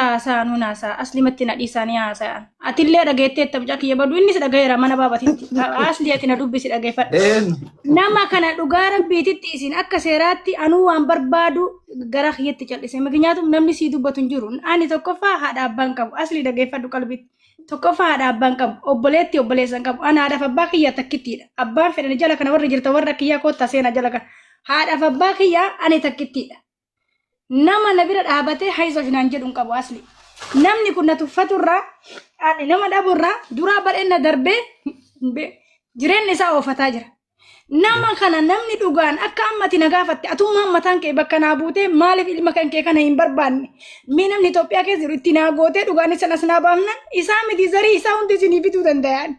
haasa'an hun haasa'an aslimatti na dhiisaanii haasa'an atillee dhageetteetta mucaa kiyya baduu innis dhagayeera mana baabatitti asli ati na dubbisi dhageeffadha Eenyu? nama kana dhugaa rabbiititti isin akka seeraatti anuu waan barbaadu gara kiyyatti cal'ise mikinyaatum namni sii dubbatu hin jiru ani tokkoffaa haadha abbaan qabu asli dhageeffadhu qalbiitti tokkoffaa haadha abbaan qabu obboleetti obboleessan qabu ana haadhaaf abbaa kiyya takkittiidha abbaan fedhan jala kana warri jirta warra kiyyaa koottaa seenaa jala kana haadhaaf abbaa kiyyaa ani takkittiidha nama na bira dhaabatee haizosh naan jedhu hin qabu asli namni kun na tuffaturraa ani nama dhaburraa duraa baleen na darbee be- jireenya isaa oofataa jira nama kana namni dhugaan akka ammati na gaafatte atummaan mataan kee bakka naa buutee maaliif ilma kan kee kana hin barbaanne mee namni Itoophiyaa keessa jiru itti naa gootee dhugaan isa nas naa baafnan isaa miti zarii isaa hundi isinii bituu danda'an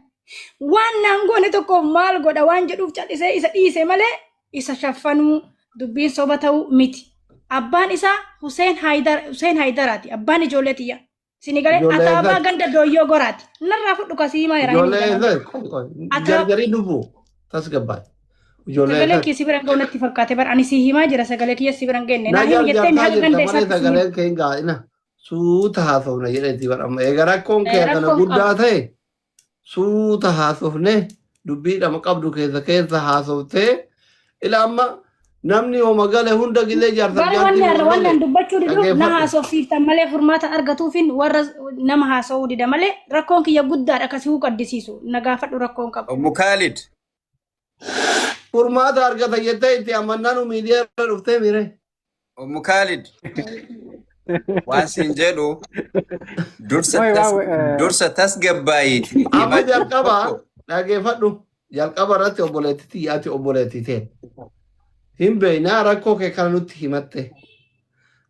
waan naan goone tokkoof maal godha waan jedhuuf callisee isa dhiise malee isa shaffanuu dubbiin soba ta'uu miti. Abbaan isaa Huseen Haayidar Huseen Haayidaraati. Abbaan ijoollee tiyya. Sini galee Ijoollee ataabaa eessaati? ganda dooyyoo goraati. Narraa fudhu kasii maa irraa hin Ijoollee eegalan. eessaati? Qoy, qoy. Ataa- Jarjarii dhufu. Tasgabbaa'e. Ijoollee Sagaleen eessaati? kee si biran ga'u natti fakkaate bar ani si himaa jira sagalee kiyya si biran ga'e. Na Naa himi jettee jarjartaa mihaga jirta ganda malee isaatti si himi. sagaleen kee hin gaa'ina. Suuta haasofna jedheeti bar amma. Egaa rakkoon kee Eh, kana rakkoon guddaa ta'e suuta haasofne dubbiidhama qabdu keessa keessa haasoftee ila amma namni homa gale hunda gilee jaarsa Bara wanni har'a wanni an dubbachuu didu na Dhaggeeffadhu. haasofsiiftan malee furmaata argatuufin warra nama haasa'uu dida malee rakkoon kiyya guddaadha akkasii huu qaddisiisu na gaafadhu rakkoon qabu. Obbo Kaalid Furmaata argata jettee itti amannaa nu miidiyaa irra dhuftee mire. Ummu Kaalid waan siin jedhu dursa Wayi, tas- wayi, eh. dursa tasgabbaayiiti. Amma jalqaba dhageeffadhu jalqaba irratti obboleetti xiyyaati obboleetti ta'e. Hin beeknaa rakkoo kee kana nutti himatte.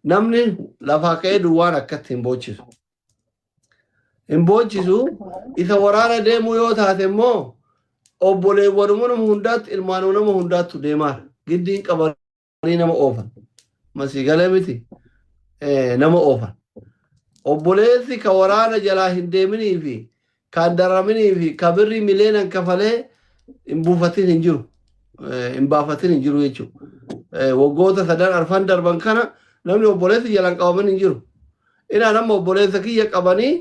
Namni lafaa ka'ee duwwaan akkatti hin boochisu. hin boochisu isa waraana deemuu yoo taate immoo obboleewwanuma nama hundaatti ilmaanuma nama hundaattu deemaadha giddiin qabanii nama oofan masii galee miti eh, nama oofan obboleessi ka waraana jalaa hin deeminii fi Ka hin daraminii fi ka birrii miliyeenan kafalee hin buufatin hin jiru. Eh, Hin baafatin hin jiru jechuudha. Eh, Waggoota sadan arfan darban kana namni obboleessi jalan qabaman hin jiru. Inaan amma obboleessa kiyya qabanii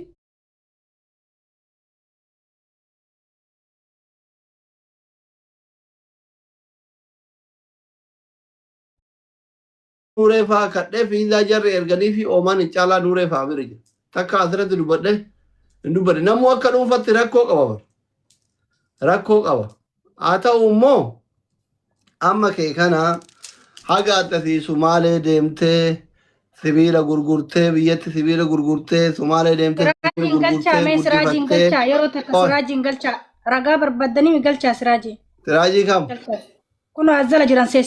Nuuree faa kadhee fiizaa jarri erganiifi oomaan hin caalaa nuuree faa bira jira. Takka asirratti dubbadhe hin dubbadhe. Namuu akka dhuunfatti rakkoo qaba bara. Rakkoo qaba. Haa ta'u immoo amma kee kana haga ati asii Sumaalee deemtee sibiila gurgurtee biyyatti sibiila gurgurtee Sumaalee deemtee sibiila Siraajiin gurgurtee galchaa mee siraajiin guddifattee galchaa yeroo takka Qoy. siraajiin galchaa ragaa barbaaddanii mi galchaa siraajii Siraajii kam? galchaa kun as jala jiran sees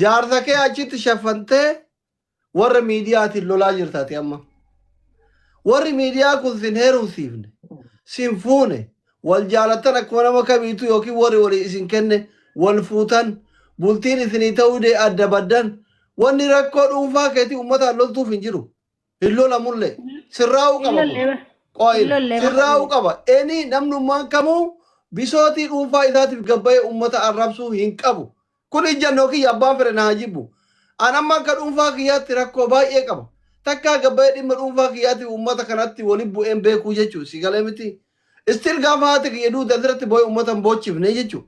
Jaarsa kee achitti shaffantee warra miidiyaatiin lolaa jirta ati amma. Warri miidiyaa kun sin heerumsiifne, sin fuune, wal jaalattan akkuma nama kamiitu yookiin warri walii isin kenne wal fuutan, bultiin isinii ta'uu dee adda baddan, wanni rakkoo dhuunfaa keetii ummataan loltuuf hin jiru. Hin lolamulle. Sirraa'uu Hin qaba kun. lollee bar. Qo'in. Hin lollee bar. Sirraa'uu qaba. Eni namnummaan kamuu bisootii dhuunfaa isaatiif gabbayee uummata arrabsuu hin qabu. Kun ijjannoo kiyya abbaan fedhe na haa jibbu. An amma akka dhuunfaa kiyyaatti rakkoo baay'ee qaba. Takkaa gabbayee dhimma dhuunfaa kiyyaatiif uummata kanatti wali bu'een beekuu jechuudha. Si galee miti? Still gaafa haati kiyya duute asirratti boo'ee uummata hin boochifne jechuudha.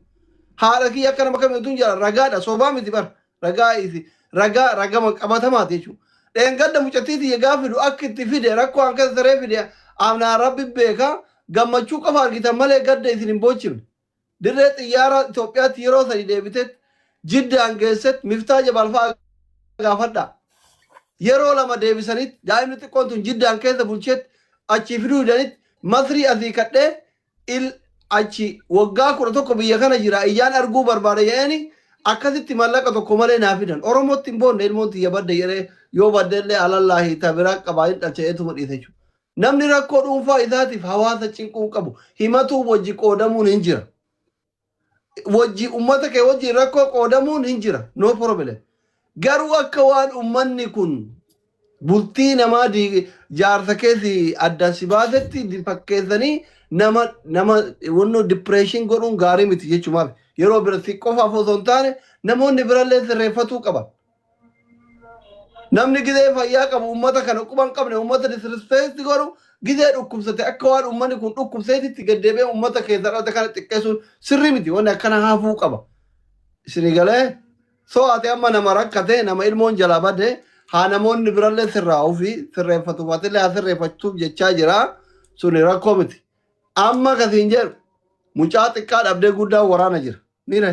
Haadha kiyya akka nama kamiitu hin jira ragaadha sobaa miti bara ragaa isi ragaa ragama qabatamaati jechuudha. Dheengadda mucattii tiyya gaafa fidu akka itti fide rakkoo an keessa saree fide aanaa rabbi beeka gammachuu qofa argitan malee gadda isin hin boochifne. Dirree xiyyaaraa Itoophiyaatti yeroo sadi deebiteet Jiddaan geesset Miftaa Jabal fa'a gaafadhaa. Yeroo lama deebisaniit daa'imni xiqqoon tun Jiddaan keessa bulcheet achii fiduu didanitt Masrii as hiikadhee il achi waggaa 11 biyya kana jira ijaan arguu barbaada jedheeni akkasitti mallaqa tokko malee naa fidan. Oromootti hin boonne ilmoon tiyya badde jedhee yoo baddellee alallaahi ta biraa qaba hin dhalcha jedheetuma dhiisa jechuudha. Namni rakkoo dhuunfaa isaatiif hawaasa cinquu hin qabu. Himatuun wajji qoodamuun hin jira. Wajji ummata kee wajjiin rakkoo qoodamuun hin jira. No problem. Garuu akka waan ummanni kun bultii namaa diig jaarsa kee si addaan si baasetti di- fakkeessanii nama nama wannoo depression godhuun gaarii miti jechumaaf yeroo bira si qofaaf osoo hin taane namoonni birallee sirreeffatuu qaban. Namni gizee fayyaa qabu uummata kana quba hin qabne uummata disrespect godhu gizee dhukkubsate akka waan uummanni kun dhukkubseetitti gaddeebi'ee uummata keessaa dhalate kana xiqqeessuun sirrii miti wanni akkana hafuu qaba. Isinii galee soo ati amma nama rakkate nama ilmoon jalaa bade haa namoonni birallee sirraa ofii sirreeffatuuf atillee haa sirreeffachuuf jechaa jira suni rakkoo miti. Amma kasiin jedhu mucaa xiqqaa dhabdee guddaan waraana jira. Miira.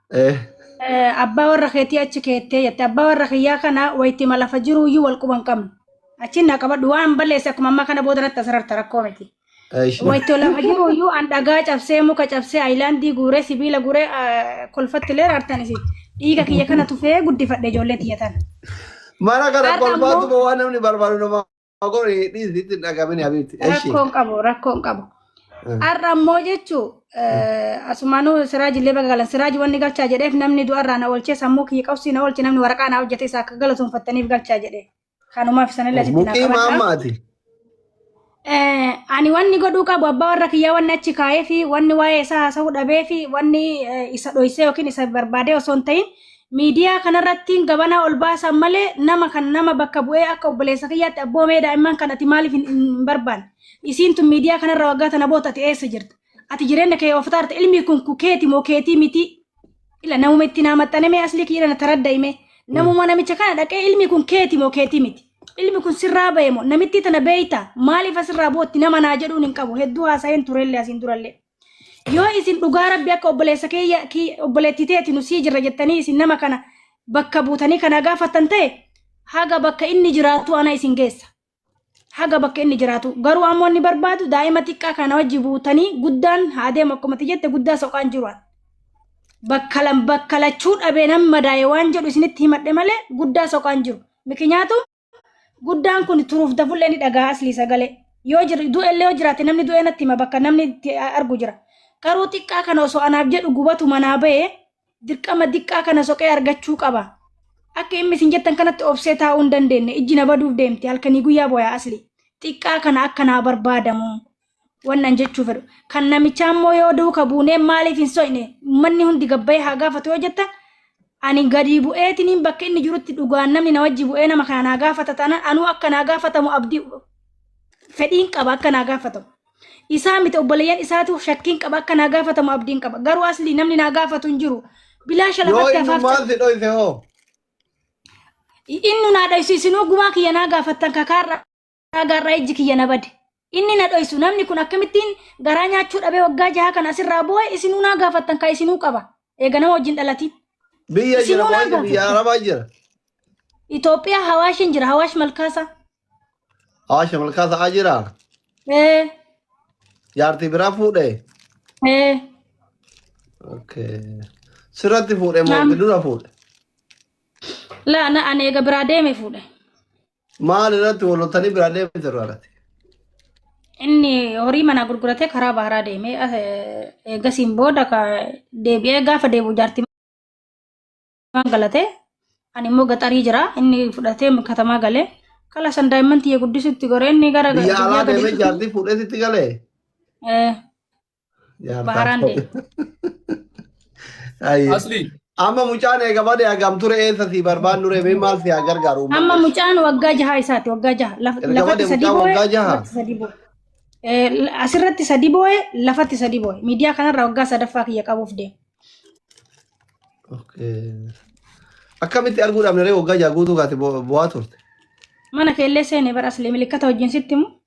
Eh, Eh, abbaa warra keetii achi keettee jette abbaa warra kiyyaa kana wayittima lafa jiruuyyuu wal quba hin qabnu achiin na qabadhu waan balleesse akkuma ammaa kana booda natti asirarta rakkoo miti Aishi. wayittima lafa jiruuyyuu an dhagaa cabsee muka cabsee ayilaandii guuree sibiila guuree eh, kolfatti illee raartan isin dhiiga kiyya kana tufee guddifadhe ijoollee tiyya tana Mana kana Har'a kolfaatu ammoo- moo waan namni barbaadu nama Ogoon dhiisi itti hin dhagamin habiibti. Eshi. Rakkoon qabu rakkoon qabu. Har'a ammoo jechuu asumaanuu siraaj illee baga galan siraaj wanni galchaa jedheef namni du'arraa na oolchee sammuu kiyya qabsii na oolche namni waraqaa na hojjete isaa akka galatoonfattaniif galchaa jedhe. Kanumaaf sanillee asitti na Muqii qabadha. maammaati. Eh, ani wanni godhuu qabu abbaa warra kiyyaa wanni achi kaa'ee fi wanni waa'ee isaa haasa'uu dhabee fi wanni eh, isa dhoysee yookiin isa barbaadee osoo hin ta'in Miidiyaa kanarrattiin gabanaa ol baasaan malee nama kan nama bakka bu'ee akka obboleessa kiyyaatti abboo mee daa'imman kan ati maaliif hin hin barbaanne? Isiin tun miidiyaa kanarra waggaa tana booda ati eessa jirta? Ati jireenya kee ooftaa jirta ilmi kun ku keeti moo keetii mitii? Ila namuma itti naa maxxane mee aslii kiyya na taradda'i mee? Namuma namicha kana dhaqee ilmi kun keeti moo keetii miti? Ilmi kun sirraa ba'e moo namittii tana beeyta? Maaliif asirraa bootti nama naa jedhuun hin qabu hedduu haasa'een turellee asiin durallee. Yoo isin dhugaa rabbi akka obboleessa keeyya kii- obboleettii teeti nu sii jirra jettanii isin nama kana bakka buutanii kana gaafattan ta'e haga bakka inni jiraatu ana isin geessa. Haga bakka inni jiraatu garuu ammoo inni barbaadu daa'ima xiqqaa kana wajji buutanii guddaan haa adeemu akkuma ati jette guddaa soqaan jiru an. Bakka lam bakka lachuu dhabee nan madaa'e waan jedhu isinitti himadhe malee guddaa soqaan jiru. Mikinyaatu guddaan kun turuuf dafullee ni dhagaa aslii sagalee yoo jir du'ellee yoo jiraate namni du'ee natti hima bakka namni itti argu jira qaruu xiqqaa kana osoo anaaf jedhu gubatu manaa ba'ee dirqama diqqaa kana soqee argachuu qaba akka inni isin jettan kanatti obsee taa'uu hin dandeenye ijji na baduuf deemti halkanii guyyaa booyaa aslii xiqqaa kana akka naa barbaadamu wannan jechuu fedhu kan namichaa immoo yoo duuka buunee maaliif hin soyne manni hundi gabbayee haa gaafatu yoo jettan ani gadii bu'eetiniin bakka inni jirutti dhugaan namni na wajji bu'ee nama kana naa gaafata taanaan anuu akka naa gaafatamu abdii fedhiin qaba akka naa gaafatamu. Isaa miti obboleeyyan isaatu shakkiin qaba akka naa gaafatamu abdiin qaba garuu aslii namni naa gaafatu hin jiru bilaasha Yoo lafatti inni hafaaf maal si dhoyse hoo? inni naa dhoysiisinuu gumaa kiyya naa gaafattan kakaarra Guyyaa gaarraa ijji kiyya na bade. Inni na dhoysu namni kun akkamittiin garaa nyaachuu dhabee waggaa jahaa kana asirraa boo'e isinuu naa gaafattan kaa isinuu qaba. Eega nama wajjin dhalatiin. Biyya jira Isinuu naa booyya biyya gaafattan. arabaa jira. Itoophiyaa hawaashin jira hawaash malkaasaa. Hawaasha malkaa sa'aa jira. Ee Jaartii biraa fuudhe. ee Okay. Sirratti fuudhe moo Naam. dura fuudhe? laa na ani eega biraa deeme fuudhe. Maal irratti walottanii biraa deemte irraa irratti. Inni horii manaa gurguratee karaa baaraa deemee as- eh, eegasiin booda ka- deebi'ee gaafa deebi'u jaartii waan galatee ani immoo gaxarii jira inni fudhatee katamaa galee kala san daa'imman tiyya guddisutti goree inni gara Biyya biyya alaa gadi deemee jaartii fuudheetitti galee. Eh, Baharaan deema. Ayyi. Asli. Amma mucaan eegamade hagam ture eessa si barbaannu ree mee maal si haa gargaaru Amma uummanni? mucaan waggaa jaha isaati waggaa jaha Laf- Erga lafatti bade sadii mucaan boo'e waggaa jaha? lafatti sadii boo'e. Eh, la- Asirratti sadii boo'e lafatti sadii boo'e miidiyaa kanarra waggaa sadaffaa kiyya qabuuf deema. Okay. Akkamitti arguu dhabne ree waggaa jaha guutuu kaate bo- bo'aa turte? Mana keellee seene bara asli milikkata wajjin sitti himu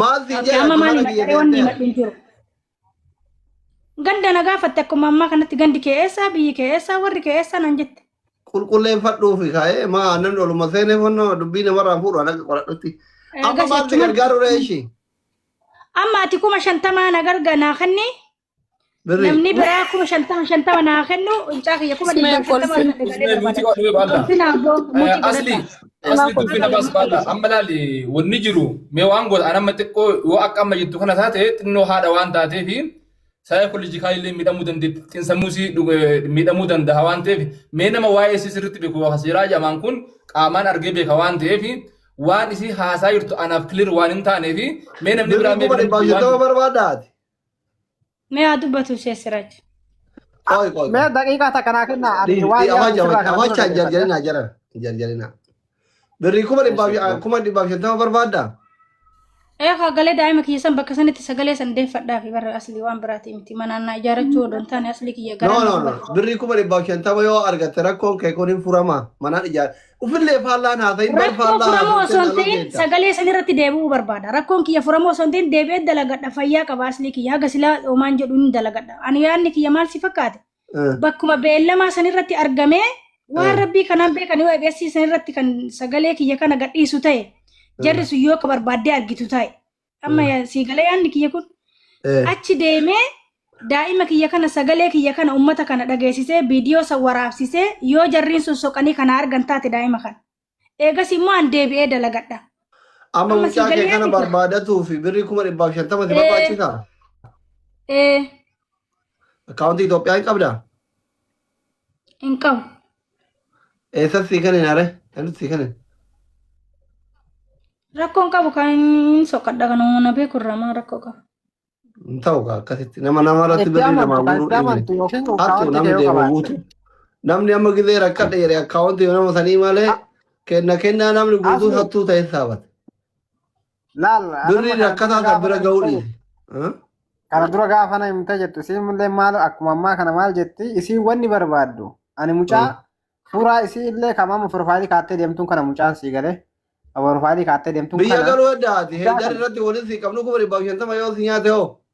Maal siin Abdi, jedha amma maal mana biyya himadhee wanni deemtee? himadhu hin jiru. Ganda na gaafatte akkuma ammaa kanatti gandi kee eessaa biyyi kee eessaa warri kee eessaa nan jette. Qulqulleeffadhuufi kaa'ee maa aannan oluma seenee fannoo dubbii namarraa fuudhu ana akka qoradhutti. Amma Eegas maal si jechuun gargaaru reeshi? amma ati kuma shantamaa na garga naa kenni Birrii. Namni biraa kuma shantama shantama naa kennu mucaa kiyya kuma Ismee dhibbaa shantama kolfin. irratti galee Ismee nuti barbaada. oduu baala. Kolfin abboo muti Asli, godhata. asli dubbiin abaas baala. Amma laali wanni jiru mee waan goota an amma xiqqoo yoo akka amma jettu kana taate xinnoo haadha waan taateef saayikolojikaa illee miidhamuu dandeetti xinsammuu isii dhu- eh, miidhamuu danda'a waan ta'eef mee nama waa'ee isii sirriitti beeku waa seeraa jamaan kun qaamaan argee beeka waan ta'eef waan isii haasaa jirtu anaaf kilir waan hin taaneef mee namni biraa Birrii mee kuma dhibbaa biratti waan shantama barbaaddaati. Mee haa dubbatu ishee siraj. Qoy qoy. Mee daqiiqaa takka naa kennaa ani Dhiisi waa'ee dhiisi afaan yaa'u sirraa jabaachuu kana afaan dura chaan dhaggeeffadhe. jarjarinaa jaran jarjarinaa. Birrii kuma dhibbaaf Eessi kun. kuma dhibbaaf shantama barbaadda? Ee haa galee daa'ima kiyya san bakka sanitti sagalee san deeffadhaa fi barra aslii waan biraatii miti manaan naa ijaarachuu odoo hin taane aslii kiyya No garaa na no no. gubate. Birrii kuma dhibbaaf shantama yoo argatte rakkoon kee kun hin furama. Manaan ijaar Ufillee faallaa naa ta'in bar Rakkoo faallaa furamoo osoo hin haasofteen ta'in sagalee san irratti deebi'uu barbaada. Rakkoon kiyya furamoo osoo hin ta'in deebi'ee dalagadha. Fayyaa qaba aslii kiyya haga silaa omaan jedhu hin dalagadha. Ani yaadni kiyya maal si fakkaate? Bakkuma beellamaa san irratti argamee waan rabbii kanaan beekan yoo ebeessii san irratti kan sagalee kiyya kana gadhiisu ta'e jarri sun yoo ka barbaaddee argitu ta'e. Amma yaa- sii galee yaadni kiyya kun Eh, achi deemee daa'ima kiyya kana sagalee kiyya kana ummata kana dhageessisee viidiyoo san waraabsisee yoo jarriin sun soqanii kana argan taate daa'ima kana. Eegas immoo an deebi'ee dalagadha. Amma amma mucaa sii kee galee kana yaadni kiyya. barbaadatuu fi birrii kuma dhibbaa fi shantama si Eh. barbaachisaa? Ee Akkaawuntii Itoophiyaa hin qabdaa? hin qabu. Eessa sii kanin are? Eessa sii kanin? Rakkoon qabu kan inni soqadha kan uumuna beeku irraa maa rakkoo qabu. Hin ta'u kaa akkasitti. Nama nama irratti Itti birrii namaa amantu kan guuruu itti dhiifne. amantu yookiin Hattu akkaawwantii namni kee yoo deema qabaatte. guutu. Namni amma gisee rakkadhe jedhe akkaawwantii nama sanii malee kenna kennaa namni guutuu Asli hattuu ta'e saabata. Laal amma Birriin kana dura rakkataa kan gaafa bira na ga'uu himte dhiise. jettu. Huh? Kana dura gaafa na himte jettu. Isiin illee maal akkuma ammaa kana maal jetti? Isiin wanni barbaaddu. Ani Huh? mucaa suuraa isii illee kan amma profaayilii kaattee deemtuun kana mucaan sii galee. Profaayilii kaattee deemtuun Biyya kana galuu heddaati. mucaa Heydar kana. irratti waliin sii qabnu kuma dhibbaaf shantama yoo si nyaate hoo.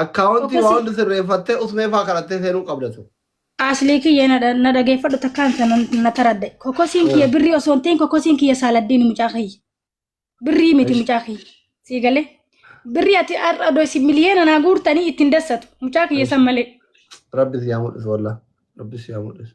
Akkaawuntii waa hundi sirreeffattee usmee faa kadhattee seenuu qabda tu. Aslii kiyya na dha- na dhageeffadhu takkaan isa na- na taradde. Kokosiin kiyya birrii osoo hin ta'in kokosiin kiyya saaladdiini mucaa kiyya. Birrii miti Ish. mucaa kiyya. Sii galee. Birrii ati har'a odoo isin miliyoona naa guurtanii ittiin dassatu. Mucaa kiyya san malee. Rabbi si haa mul'isu wallah. Rabbi si haa mul'isu.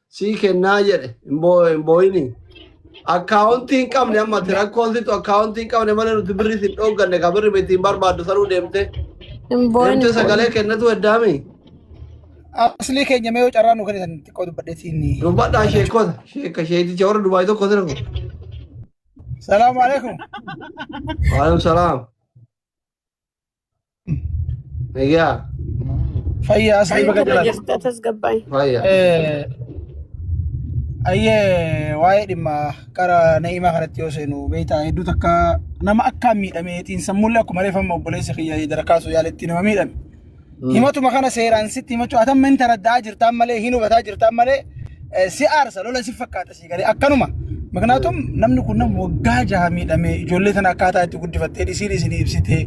sii kennaa jedhe hin boo- hin boo'ini. Akkaawuntii hin qabne amma ati rakkoon situ akkaawuntii hin qabne malee nuti birri sin dhoogganne ka birri miti hin barbaaddu sanuu deemte Hin boo'in deemte hin sagalee boo'in. kennatu heddaami. Aslii keenya mee yoo carraa nu kennitan xiqqoo dubbadheetiin ni. Dubbadhaa sheekota sheeka sheeticha warra Dubaay tokko sira kun. Salaamu alaikum. Waalaikum salaam. Nagyaa. Fayyaa asii Fayyaa baga Akkuma jalaatti. jirtu tasgabbaa'e. Fayyaa. Eh, Ayyee waa'ee dhimma qara na'imaa kanatti yoo seenu beektaa hedduu takka nama akkaan miidhame xiinsammuullee akkuma reeffamma obboleessi kiyya hidara kaasuu yaaletti nama miidhame. Himatuma kana seeraan sitti himachuu atamma hin taradda'aa jirtaan malee hin hubataa jirtaan malee eh, si aarsa lola si fakkaata. eegale akkanuma maknaatum namni kun nam waggaa jaha miidhamee ijoollee sana akkaataa itti guddifattee dhisiin isin ibsitee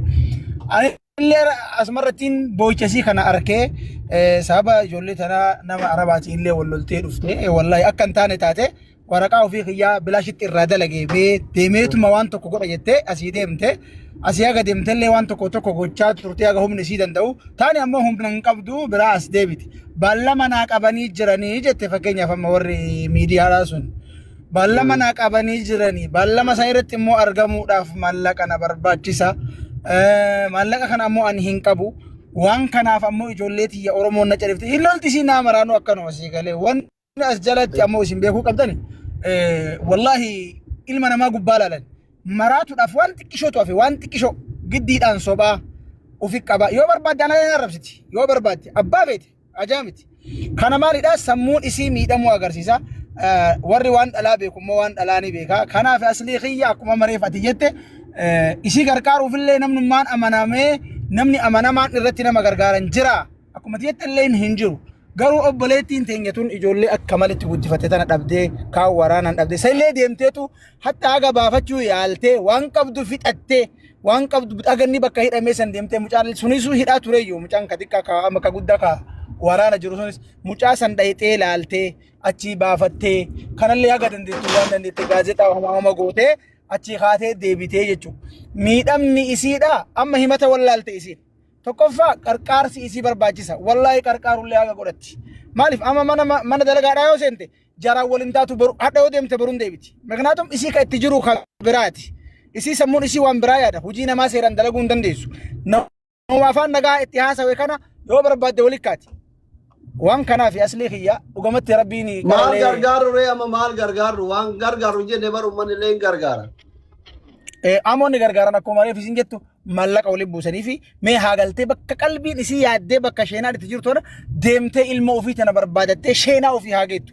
ani illee asumarrattiin boochasii kana arkee eh, sababa ijoollee tanaa nama arabaatiin illee wal loltee dhufte eh, wallaahi akka hin taane taate waraqaa ofii kiyyaa bilaashitti irraa dalagee bee deemeetuma waan tokko godha jettee asii deemte asii haga deemte illee waan tokko tokko gochaa turtee haga humni isii danda'u taani ammoo humna hin qabdu biraa as deebiti Baallama naa qabanii jiranii jette fakkeenyaaf amma warri miidiyaadhaa sun. Baallama naa qabanii jiranii. Baallama isaa irratti immoo argamuudhaaf maallaqa na barbaachisa. Eh, Maallaqa kana ammoo ani hin qabu. Waan kanaaf ammoo ijoollee tiyya Oromoon na carifte. Hin lolti isii naa maraanuu akkanuma sii galee. Wan as jalatti ammoo isin beekuu qabdan wallaahi ilma namaa gubbaa laalan maraatuudhaaf waan xiqqishootu hafe waan xiqqishoo giddiidhaan sobaa ufi qaba yoo barbaadde ana hin arrabsiti yoo barbaadde abbaa feete ajaa miti kana maalidha sammuun isii miidhamuu agarsiisa Eh, warri waan dhalaa beeku immoo waan dhalaa ni beeka kanaaf aslii kiyya akkuma mareef ati jette eh, isii gargaaruufillee namnummaan amanamee namni amanamaan irratti nama gargaaran jira Akkuma jetti illee hin jiru. Garuu obboleettiin teenya tun ijoollee akka malitti guddifatte tana dhabdee kaan waraanaan dhabdee sallee deemteetu hatta haga baafachuu yaaltee waan qabdu fixattee waan qabdu dhaganni bakka hidhamee san deemtee mucaan sunisuu hidhaa tureyyuu mucaan ka xiqqaa ka amma ka guddaa ka waraana jiru sunis mucaa san dhayxee laaltee achii baafattee kanallee haga dandeettu waan dandeette gaazexaa homaa homa gootee achii kaatee deebitee jechuudha. Miidhamni isiidha amma himata wallaalte isiidha. Tokkoffaa qarqaarsi isii barbaachisa. Wallaahi qarqaarullee haga godhatti. Maaliif amma mana mana dalagaadhaa yoo seente jaraan waliin taatu boru hadha yoo deemte boruun deebiti. Miknaatum isii ka itti jiru ka biraati. Isii sammuun isii waan biraa yaada. Hojii namaa seeraan dalaguu hin dandeessu. Nama afaan nagaa itti haasawe kana yoo barbaadde walikkaati. waan kanaaf aslii kiyya dhugamatti rabbiin maal qarallee gargaaru ree amma maal gargaaru waan gargaaru jenne bar ummanni illee hin gargaara Eh, amoonni gargaaran akkuma reef isin jettu mallaqa waliin buusanii fi mee haa galtee bakka qalbiin isii yaaddee bakka sheenaan itti jirtu tana deemtee ilma ofii tana barbaadattee sheenaa ofii haa geettu.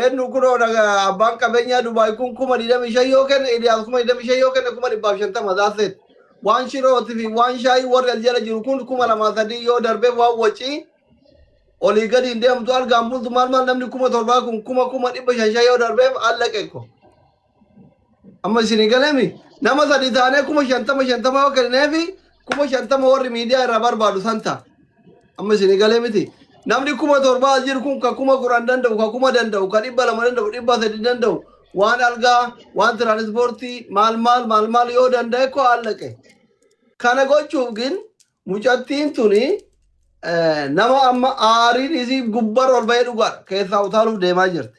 Eenyu kunoo dhaga abbaan qabeenyaa Dubaay kun kuma 25 yoo kenne Iliyaas kuma 25 yoo kenne kuma 150 zaaseet. Waan shirooti fi waan shaayii warri as jala jiru kun kuma lama sadii yoo darbee waan wacii olii gadi hin deemtu argaan bultu maal maal namni kuma torbaa kun kuma kuma dhibba shan shan yoo darbeef allaqe ko. Amma isinii galeemi nama sadii taanee kuma shantama shantama yoo kennineefi kuma shantama warri miidiyaa irraa barbaadu san ta'a. Amma isinii galee miti. Namni kuma torbaa as jiru kun ka kuma kudhan danda'u, ka kuma danda'u, ka dhibba lama danda'u, dhibba sadii danda'u, waan algaa, waan tiraanispoortii, maal maal maal maal yoo danda'e koo allaqe. Kana gochuuf gin mucattiin tuni eh, nama amma aariin isii gubbar ol bahee dhugaadha. Keessaa utaaluuf deemaa jirti.